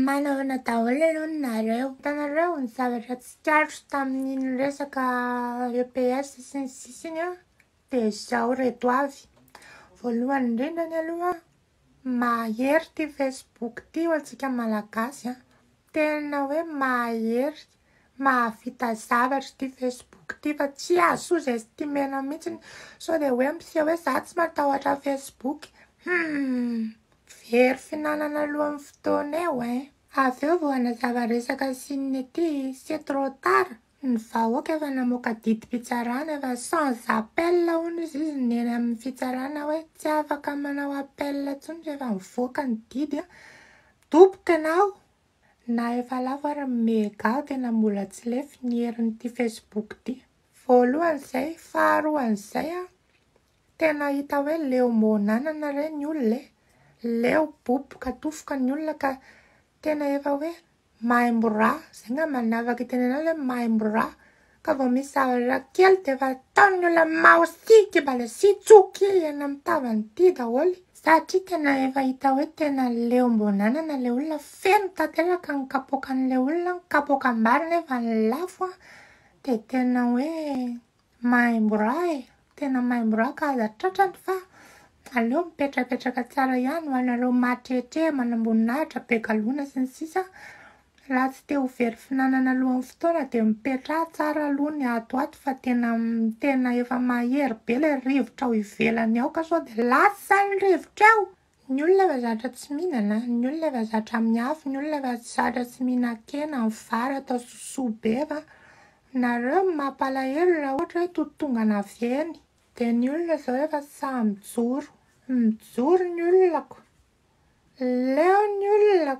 Manahoana daholo aloha ny nareo. Hitanareo ny zavatra tsikaritro tamin'iny resaka EPS sy ny sisa iny an, dia izao ireto avy. Voalohany indrindra ny aloha, mahery ity Facebook ity ho antsika malagasy an. Tena hoe mahery. Mahavita zavatra ity Facebook ity fa tsy azo estimena mihitsiny sao dia hoe miseho hoe za tsy matahotra Facebook. Humm. Very fihinanana alohan'ny fotoana eo eh. Avy eo vao hanazava resaka Chine ity, c'est trop tard, ny vahoaka efa namoaka didim-pitsarana efa sans appel hono izy izy ny eny amin'ny fitsarana hoe tsy afaka manao appel intsony rehefa mivoaka ny didy an. Doboka ianao. Na efa lafo ary ny mega tena mbola tsy lefy ny herin'ity facebook ity. Voalohan'izay, faharoan'izay an! Tena hita hoe leo monanana re ny olona e! Leo boboka dofoka ny olona ka tena efa hoe maimbo ra, zay ngamba ny afaka itenenana hoe maimbo ra. Ka vao misy zavatra kely dia efa ataon'ny olona maosia kibalesia tsoa kely eny amin'ny tavany ity daholo satria tena efa hita hoe tena leom-boan'anana ilay olona, feno tanteraka ny kapoakan'ilay olona, ny kapoakam-bary nefa lafo an, dia tena hoe maimbo ra e! Tena mahay miroaka aza tratrany fa aleo mipetrapetraka tsara ihany ho anareo mahatrehatreha manamboninahitra be galona sy ny sisa raha tsy te ho very finanana alohan'ny fotoana dia mipetraha tsara aloha ny ato ato fa tena tena efa mahery be ilay rivotra ao ivelany ao ka sao dia lasa ny rivotra eo! Ny olona efa zatra tsy mihinana, ny olona efa zatra amin'ny afo, ny olona efa zatra tsy mihinan-kena, ny vary atao sosoa be fa nareo ny mampalahelo raha ohatra hoe totongana avy eny dia ny olona izao efa sahy mijoro, mijoro ny olona, leo ny olona,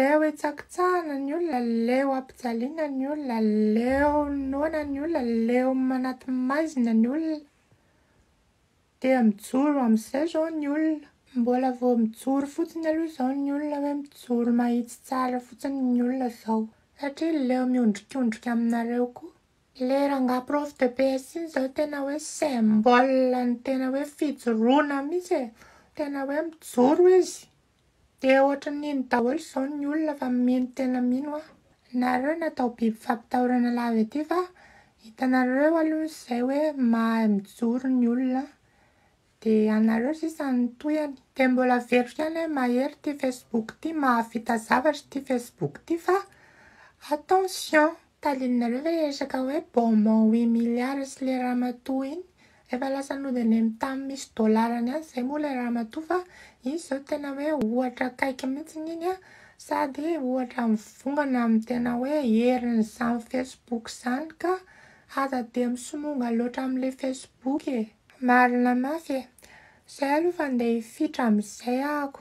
leo hitsakitsahina ny olona, leo hampijaliana ny olona, leo noana ny olona, leo manaty maizina ny olona. Dia mijoro amin'izay izao ny olona. Mbola vao mijoro fotsiny aloha izao ny olona hoe mijoro mahitsy tsara fotsiny ny olona izao. Satria leo miondrikondrika aminareo koa. Ilay rangahy prof de PS iny izao tena hoe symbole ny tena hoe fijoroana mihitsy e. Tena hoe mijoro izy. Dia ohatran'ny nino daholo izao ny olona fa mino tena mino an! Nareo natao biby fampitahorana lava ity fa hitanareo aloha izay hoe mahay mijoro ny olona an! Dia anareo sisa no tohihany! Dia mbola averiko ihany hoe mahery ity facebook ity mahavita zavatra ity facebook ity fa attention! Tadidinareo ve le resaka hoe bonbon huit milliards sy le ramatoa iny? Efa lasa nody any amin'ny tany misy dollars-ny any izay moa le ramatoa fa iny izao tena hoe ohatra akaiky mihitsy iny an! Sady ohatra mivongana amin'ny tena hoe herin'izany facebook izany ka! Aza dia misononga loatra amin'ilay facebook e! Marina mafy e! Izay aloha fa ndeha hifitra amin'izay ahako.